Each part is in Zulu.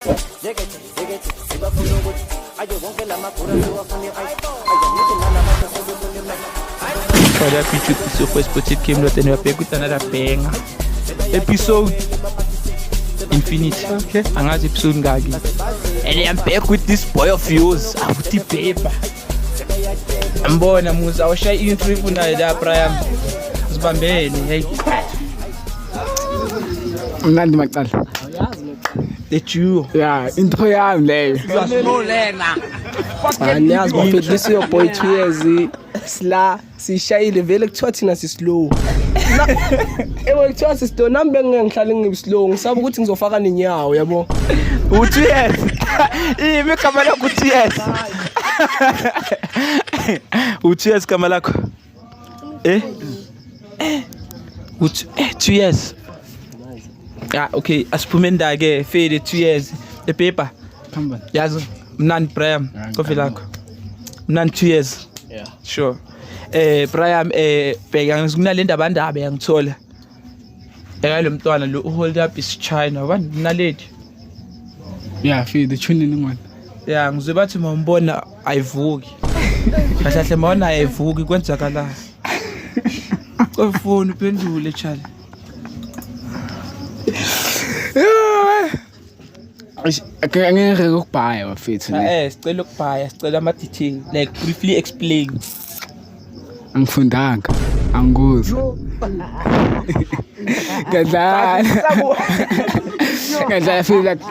Zekete, zekete, sibafuna ukuthi aje wonke la magura siwafune ayi. Ayanithi nalabantu sebefuna imali. Olha a pizza que se eu fosse pro tipo que me tenho a pergunta na penga. Episode Infinity. Okay. Angazi episode ngaki. And I'm back with this boy of yours. Awuthi paper. Ambona musa awushaye intro ifunayo la Brian. Sibambene. Hey. Mnandi macala. the duo yeah into yami leyo anyazi bafedlisa your boy two years sila sishayile vele kuthiwa thina sislow ewe kuthiwa sislow nami bengingeke ngihlale ngibislow ngisaba ukuthi ngizofaka nenyawo yabo uthi yes imi igama lakho uthi yes uthi yes igama lakho Eh? Eh. Uthi eh 2 years. Ah okay, asiphume ndake fele 2 years. Epepa. Phambili. Yazi mnandi Brian, kofi lakho. Mnandi 2 years. Yeah. Sure. Eh Brian eh bheka ngikunalendaba ndaba yangithola. Eka lo mntwana lo uhold up is China wani mnaledi. Yeah, fi the tune ni ngwana. Yeah, ngizwe bathi mawumbona ayivuki. Kahle kahle mawona ayivuki kwenzakala. Kofoni uphendule chali. angeke ukubhaya bafethu ne eh sicela ukubhaya sicela ama detail like briefly explain angifundanga anguzi ngadlala ngadlala feel like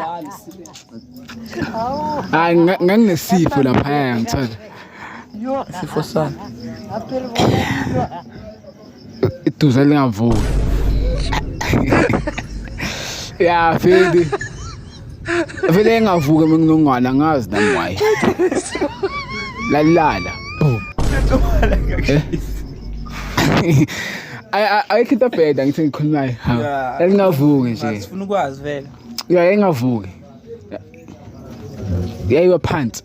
hayi nganginesifo lapha ngithola sifo sana iduze lingavuki ya fedi vele engavuke uma nginongwana ngazi nami wayi lalilala ayikho into bheda ngithi ngikhulumayo yalingavuki nje sifuna ukwazi vele yayengavuki yayiwa phansi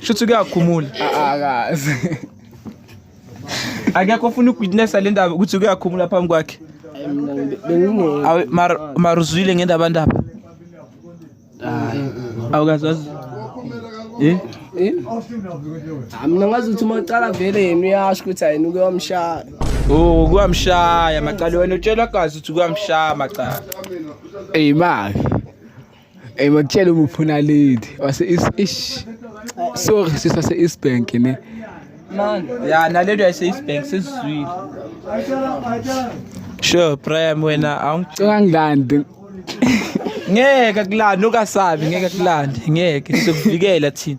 Shuthi kuyakhumula. Akazi. Akekho ofuna ukuwitnessa le ndaba ukuthi kuyakhumula phambi kwakhe. Awu mar maruzwile ngendaba ndaba. Hayi. Awukazwazi. Eh? Eh? Ah, mina ngazi ukuthi uma ucala vele yena uyasho ukuthi ayena uke wamshaya. Oh, kuyamshaya macala wena utshelwa gazi ukuthi kuyamshaya macala. Ey maki. Hey makutshela uma ufuna lady wase is ish. Sorry sisa se East Bank ne. Man. Yeah, na lady wase East Bank sizwile. Sure, Prime wena awungicela ngilande. Ngeke kulanda ukasabi ngeke kulanda ngeke sizokuvikela thina.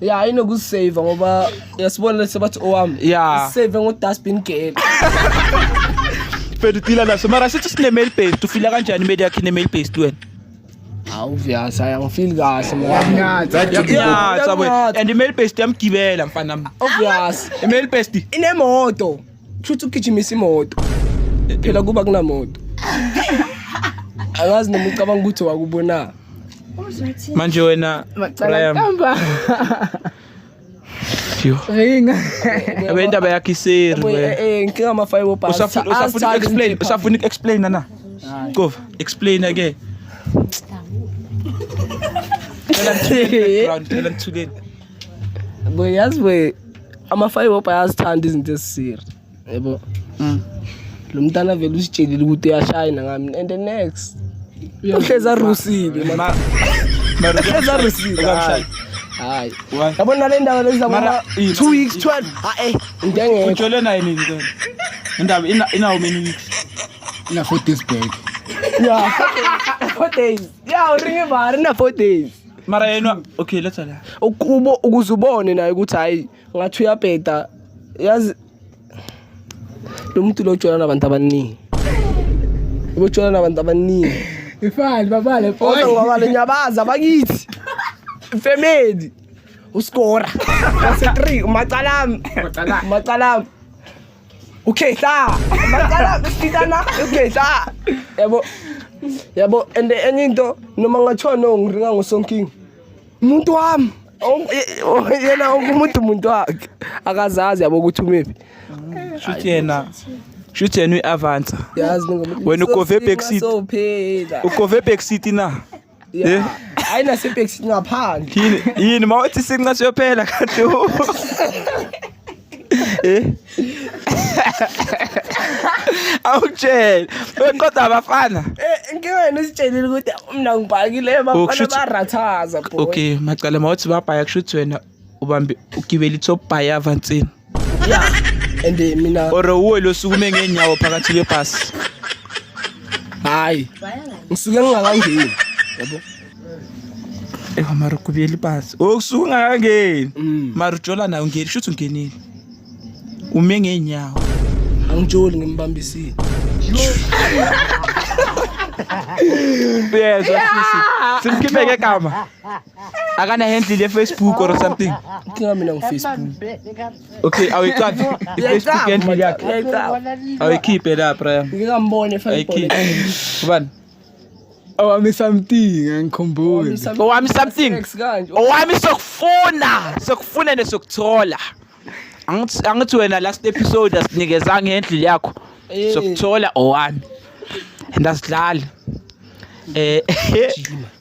ya inokusave ngoba yasibona lesi bathi owami ya save ngo dustbin girl fedutila naso mara sithi sine mail based ufila kanjani media yakhe ne mail based wena hawu vyasa yangifeel kahle mfana ya sabo and mail based yamgibela mfana obvious mail based inemoto Kushuthi ugijimisa imoto. Phela kuba kunamoto. Angazi noma ucabanga ukuthi wakubona. Manje wena Brian. Ringa. Abendaba yakhe iseri. Eh, eh, inkinga ama five bars. Usafuna usafuna explain, usafuna explain na. Qova, explain again. Ngicela ngithuleni background, ngicela ngithuleni. Boy yazi we ama-five hop ayazithanda izinto ezisiri yebo mm. lo mntana vele usitshelile ukuthi uyashayina ngami and the next uhlezi arusile uhlezi arusile hayi hayi yabona le ndaba lezi zabona two weeks twelve hayi into engekho ujole naye nini ke indaba inawo many weeks ina four days back ya four days ya uringe bari na four days mara yena okay let's ala ukubo ukuze ubone naye ukuthi hayi ngathi uyabheda yazi lo muntu lo jola nabantu abaningi ujola nabantu abaningi ifani babale photo ngoba le nyabaza bakithi family uskora wase 3 macalami macalami Okay, sa. Magkala, kita na. Okay, sa. Yabo. Yabo, and enye into noma ngathiwa no ngiringa ngosonking. Umuntu wami. Oh, ye- oh, Yena wonke umuntu umuntu wakhe. Akazazi yabo ukuthi umephi. shuthi yena shuthi yena uyi-avansa Yazi ningomuntu. Wena ukove back seat. Sophela. ukove back city na Yeah. Ayina sepex ngaphandle. Yini yini mawuthi sinqa siyophela kanti. Eh. Awutshela. Weqoda abafana. Eh ngiyena usitshelile ukuthi mina ngibhakile abafana barathaza bro. Okay, macala mawuthi babhaya kushuthi wena ubambe ugibele i-top bayava nsini ya and eh, mina or uwe losukume ngeenyawo phakathi kwebhasi hayi ngisuke ngingakangeni yabo ewa mara ugibele ibhasi o kusuke ungakangeni Mm. mara ujola nayo ungeni shuthi ungenile ume ngeenyawo angijoli ngimbambisile uyezwa sisi simkhipheke gama akana handle le Facebook or something inkinga mina ngu Facebook okay awiqaphi i Facebook handle yakhe awikhiphe la Brian ngikambone fanele ubani owami something angikhumbuli owami something owami sokufuna sokufuna nesokuthola angithi wena last episode asinikeza ngendlu yakho eh. sokuthola owami ndasidlala eh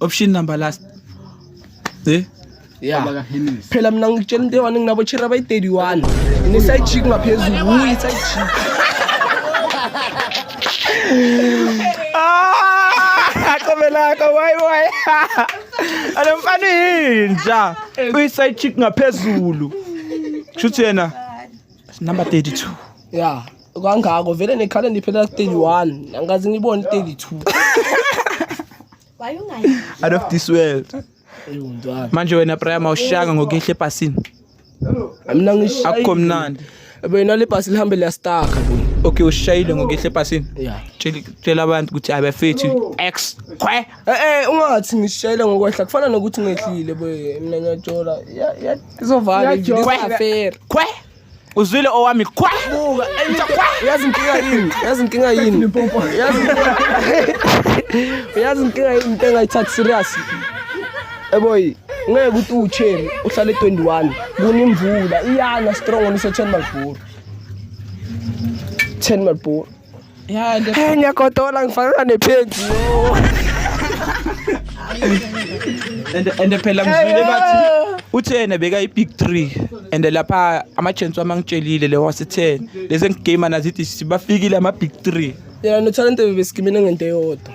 option number last eh yeah phela mina ngikutshela into eyi-one nginabo chera abayi-31 nginesayi chick ngaphezulu wuyi isayi chick aqobelaka wayi wayi alo mfana yinja uyi-side chick ngaphezulu kusho ukuthi yena number 32 ya kangako vele nekhala ndiphela 31 angazi ngibone 32 Why you not? Out of this world. Manje wena Brian mawushanga ngokuhle ebhasini. Mina ngishaya. Akukho mnandi. Wena le bhasi lihambe liyastaka buni. Okay ushayile ngokuhle ebhasini. Yeah. Tshela tshela abantu ukuthi abafethu X kwe. Eh eh ungathi ngishayile ngokwehla kufana nokuthi ngehlile boy mina ngiyajola. Ya ya izovala. Izovala. Kwe. Kwe. uzwile owami kwa buka yazi inkinga yini yazi inkinga yini yazi yazi inkinga yini into engayithathi serious eboyi ngeke ukuthi uwucheri uhlale 21 kunimvula iyana strong nise 10 malibhuru 10 malibhuru Ya, ndio. Eh, nyakotola ngifana nephenzi. And and phela ngizwile bathi uthi yena beka i big 3 and lapha ama chance wami angitshelile le wase 10 lezi ngigame nazithi sibafikile ama big 3. Yena no talent bebesikimina ngento eyodwa.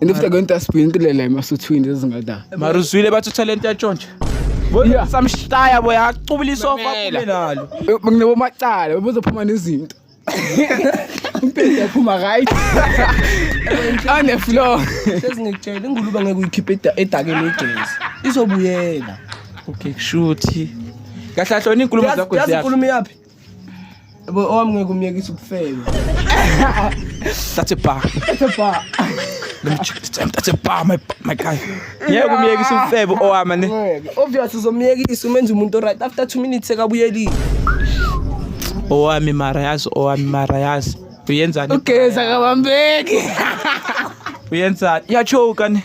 And if they're going to spin to lele masuthwini zingada. Mara uzwile bathi utalent yatshontsha. Bona samshaya boy acubula isofa kume nalo. Nginabo macala bezophuma nezinto. Umpende yaphuma right. On the floor. Sesingitshela ingulube ngeke uyikhiphe edakeni ejezi. Izobuyela. Okay kushuthi. Kahle ahlona inkulumo zakho ziyaphila. Yazi inkulumo yaphi? Yabo owami ngeke umyekise ukufeba. That's a bar. That's a bar. Let me check this time. That's a bar my my guy. Ngeke umyekise ukufeba owami ne. Obvious uzomyekisa umenza umuntu right after 2 minutes sekabuyelile. Owami mara yazi owami mara yazi. Uyenzani? Ugeza kabambeki. Uyenzani? Yachoka ne.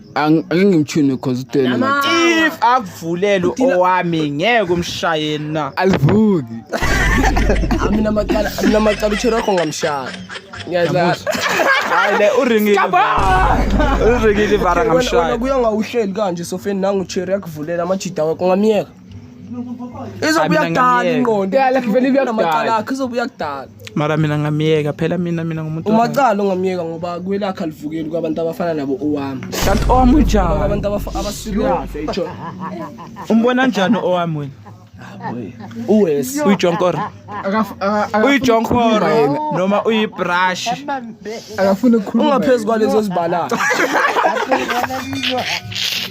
Ang- angeke ngimtshune cause uthwele Nama- macala if akuvulele owami ngeke umshaye na alivuki amina macala amina macala uthwele wakho ngamshaya ngiyadlala hayi le uringile uringile ivara Wena- wena ngamshaya kuya ngawuhleli kanje sofeni nangu cherry akuvulela amajida wakho ngamyeka izobuya kudala ingqondo vele ibuya namacala akhe izobuya kudala mara mina ngamyeka phela mina mina ngumuntu umacala ongamyeka ngoba kwelakhe alivukeli kwabantu abafana nabo owami kanti owami unjani abantu abasiriyase umbona njani owami wena uwesi uyijonkora Akaf- aka- akafuni uyijonkoro ukukhuluma yena. noma uyibrush akafuni ukukhuluma ungaphezu kwalezo zibalala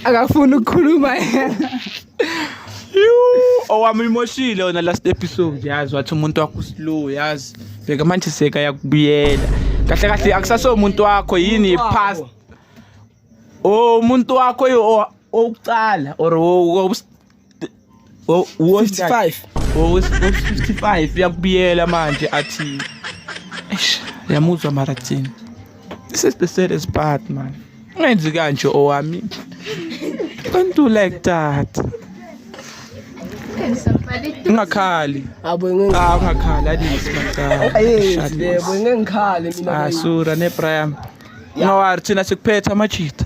akafuni ukukhuluma yena owami uyimoshile wona last episode yazi wathi umuntu wakho uslow yazi bheka manje seka yakubuyela kahle kahle akusaso umuntu wakho yini past o umuntu wakho yo- o- owukuqala or o- o- Oh, wo- 55 Oh, it's- oh, 55 yakubiyela manje athi eish yamuzwa mara thina this is the saddest part man ungenzi kanje owami don't do like that ungakhali abo ngeke ah ungakhali adisi mancane ayenzi lebo ngeke ngikhale mina ah sura ne prime ngawari thina sikuphetha amajita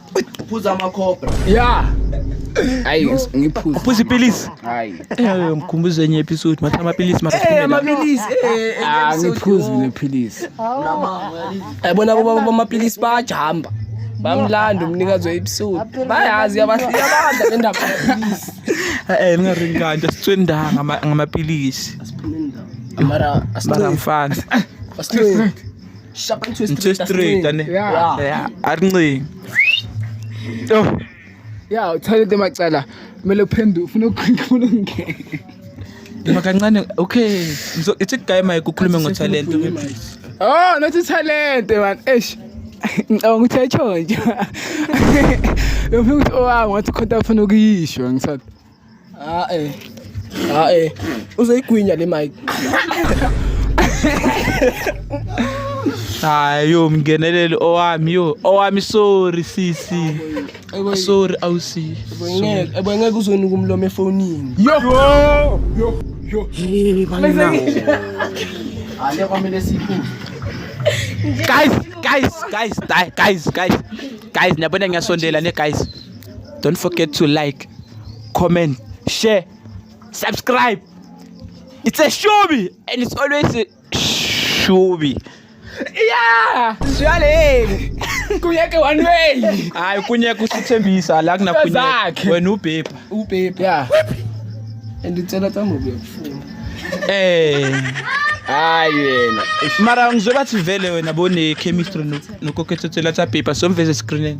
Phuza ama cobra. Yeah. Hayi ngiphuza. Phuza ipilisi. Hayi. Eh mkhumbuze enye episode matha amapilisi mara. Eh amapilisi. Eh, eh ah ngiphuza mina pilisi. Yabona kuba amapilisi bayajamba. Bamlanda umnikazi we episode. Bayazi yabahlika abadla bendaba amapilisi. Eh ningaringanda sitswenda ngamapilisi. Asiphinde ndawo. Mara asiphinde mfana. Asiphinde. shapa into into straight ane yeah yeah arincingi oh yeah uthole into macala kumele uphendu ufuna ukukhuluma ngeke Noma kancane okay ngizo ithi guy my kukhulume ngo talent oh not talent man eish ngicabanga ukuthi ayitshontsha bengifika ukuthi owami oh, ngathi khonta afuna ukuyisho ngithatha Ah eh. Ah eh. Uzoyigwinya le mic. Hayi yo mngeneleli owami yo owami sorry sisi. Sorry awusi. Ngeke ebengeke uzonika umlomo efonini. Yo. Yo. Yo. Hey bangina. Ale kwamele sikhulu. Guys, guys, guys, guys, guys. Guys, niyabona ngiyasondela ne guys. Don't forget to like, comment, share, subscribe. It's a shubi and it's always a shubi. Yeah! Siyaleni. Kunyeke one way. Hayi kunyeke usithembisa la kuna kunyeke. Wena ubhebha. Ubhebha. Yeah. And utsela tsa ngobe yakufuna. Eh. hayi yena mara ngizobathi vele wena bone chemistry nokokhethothela tsa bhebha somveze screening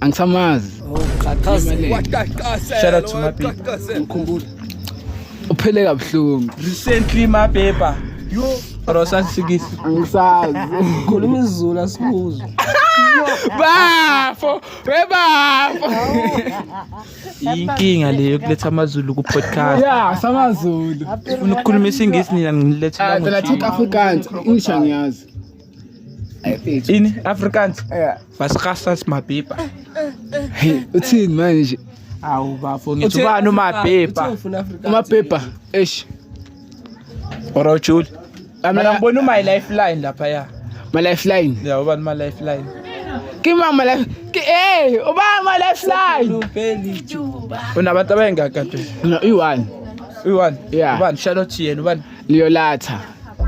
angisamazi Shout out to my people. Mkhumbula. uphele kabuhlungu Recently my paper. Yo, bro sasifikile. angisazi Khuluma isiZulu asikuzwe. bafo webafo Inkinga leyo kuletha amazulu ku podcast. ya samazulu Ufuna ukukhuluma isingisi nina ngilethela Ah, phela ngoShembe. thika afrikaans english angiyazi ini afrikaans basikasa simabhibha uthini manje awu bafo ngithi ubani umabhibha umabhibha eish orojuli mina ngibona uma lifeline lapha ya ma lifeline ya ubani ma lifeline ke ma ma life ke eh uba ma lifeline unabantu abayengaka phela no i1 i1 yeah ubani charlotte yena ubani liyolatha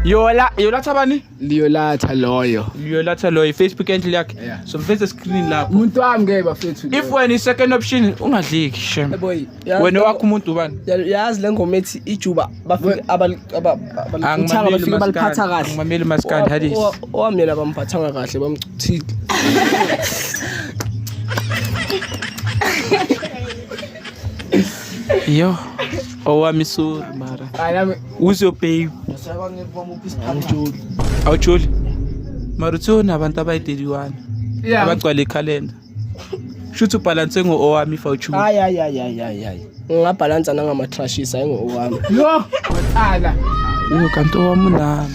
yola yolatha bani liyolatha loyo liyolatha loyo ifacebook enhle yakhe Yeah. so mfethu screen lapho umuntu wami ke bafethu if wena i-second option ungadliki shem Boy, yazi- wena wakho umuntu ubani Ya- yazi le ngoma ethi ijuba bafike abali- aba- abalithanga, Angimameli bafike umaskandi, baliphatha kahle angimameli umaskandi, Owa- Hadis. owa- owami yena bamphathanga kahle bamchithile Yo. Owa misuri mara. Uzo pay. Awucholi. Mara uthona abantu abayideliwana. Abagcwala ikhalenda. Shuthi ubhalanse ngo-owami fa uchuba. Hayi hayi hayi hayi hayi hayi. Ngingabhalansa nangama-trashes hayi ngo-owami. Yo, waqala. Yo kanti owami unami.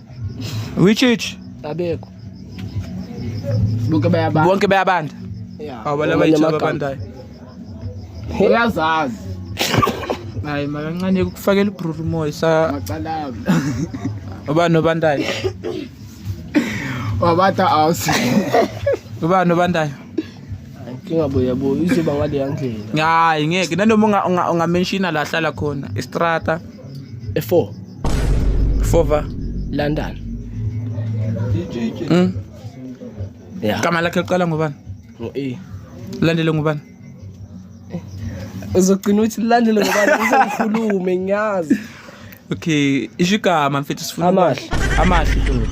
Which which? Abekho. Bonke bayabanda. Bonke bayabanda. Yeah. Awu balaba yithi ababandayo. Uyazazi. Hayi makancane ukufakela uBruno Moy sa macalabi. Ubani obandayo? Wabatha house. Ubani obandayo? Inkinga bo yabo izoba ngaleya ndlela. Hayi ngeke nanoma unga- unga- ungamenshina la hlala khona istrata E4 fova London. mm. Yeah. gama lakhe liqala ngobani Ngo A. landele ngubani Uzogcina uthi landele ngoba uzokhulume ngiyazi. Okay, isho igama mfethu sifuna amahle. Amahle ntombi.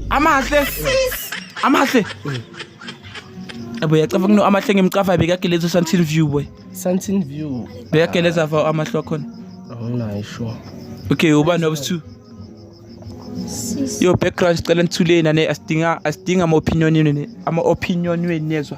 Amahle. Amahle. Abo yacava kuno amahle ngimcafa bekageleza Santin View boy. Santin View. Bekageleza fa amahle khona. Awunayo sure. Okay, ubani wabuthu? Yo background sicela nithuleni ane asidinga asidinga ama opinion yenu ama opinion wenu nezwa.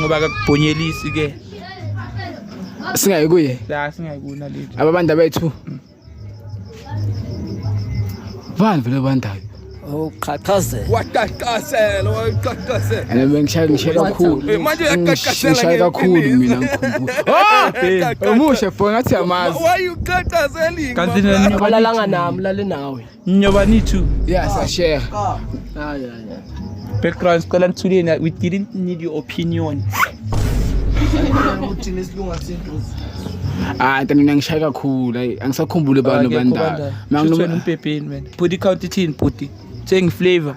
ngoba akakubhonyelisi ke singayi kuye la singayi kuna lethu aba bantu abethu bani vele bandayo uqhaqhazela waqaqhazela waqaqhazela and bengishaya ngishe kakhulu eh, manje uyaqaqhazela ngishaye kakhulu mina ngikhumbula omushe fo ngathi yamazi why you qaqhazela kanti nina balalanga nami lale nawe Nyobanitu. Yes, I share. Ah, yeah, yeah. Background sicela nithuleni we didn't need your opinion. Uthini isilunga sentuzi. Ah, kanti mina ngishaya kakhulu. Hayi, angisakhumbuli abantu bandala. Manginomuntu umpepeni wena. Body count ithini body? Thengi flavor.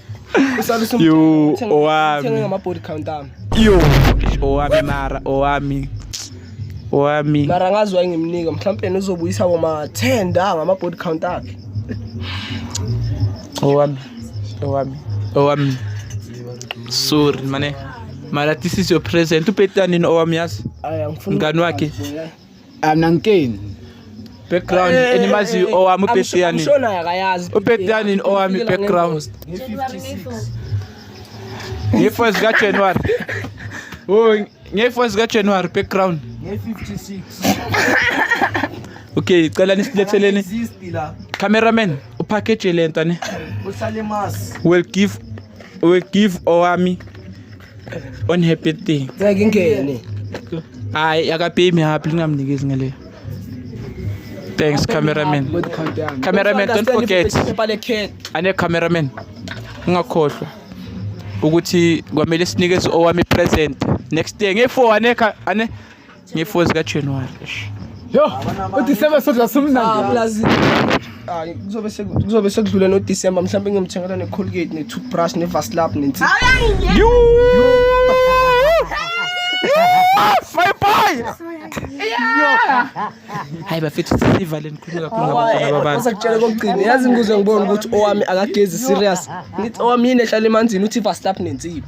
Yo, owami. Thenge ngama body count ami. Yo, owami mara, owami. Owami. Mara ngazi wayengimnika, mhlawumbe nizobuyisa boma 10 da ngama body count akhe. Owami. Owami. Owami. Sorry, mane. Mara this is your present. Upetani no owami yazi. Aya ngifuna. Ngani wakhe. Anankeni. Background eh, eh, enimazi eh, owami ubhesi yani. Ushona akayazi. Ubhesi yani owami background. Ngefa zika January. Oh, ngefa zika January background. Nge 56. Okay, cela nisiletheleni. Cameraman, upackage lento ne. Uhlale mas. Will give will give owami. On happy thing. Ngeke ingene. Hayi akapay me happy lingamnikezi ngale. Thanks cameraman. Cameraman don't forget. Ane cameraman. Ungakhohlwa ukuthi kwamele sinikeze owami present next year nge-4 ane ane ngefour zikajanuwari yo udisemba sodla simnandi hayi kuzobe seku- kuzobe sekudlule nodisemba mhlawumbe ngiyomthengela ne-colgate ne-toothbrush ne-vaslab nensi hayi bafethu sisivale nikhulume kakhulu ngabantwana babantu asakutshela kokugcina yazi ngikuze ngibone ukuthi owami akagezi serious ngithi owami yini ehlala emanzini uthi vaslab nensiba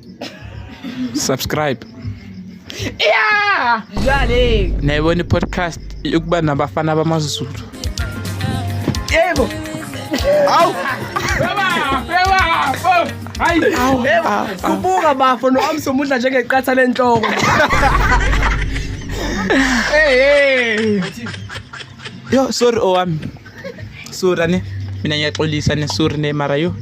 subscribe yeah jale nayibona podcast yokuba nabafana bamazulu yebo awu hayi kubuka bafo noami somudla njengeqatha lenhloko hey yo sorry owami oh, sorry ne mina ngiyaxolisa ne sorry ne mara yo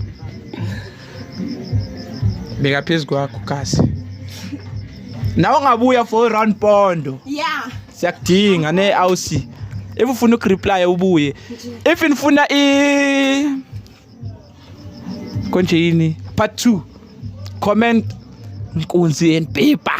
beka phezu kwakho kasi nawe ungabuya for round pondo yeah siyakudinga ne awusi if ufuna ukureply ubuye if nifuna i konje yini part 2 comment nkunzi and paper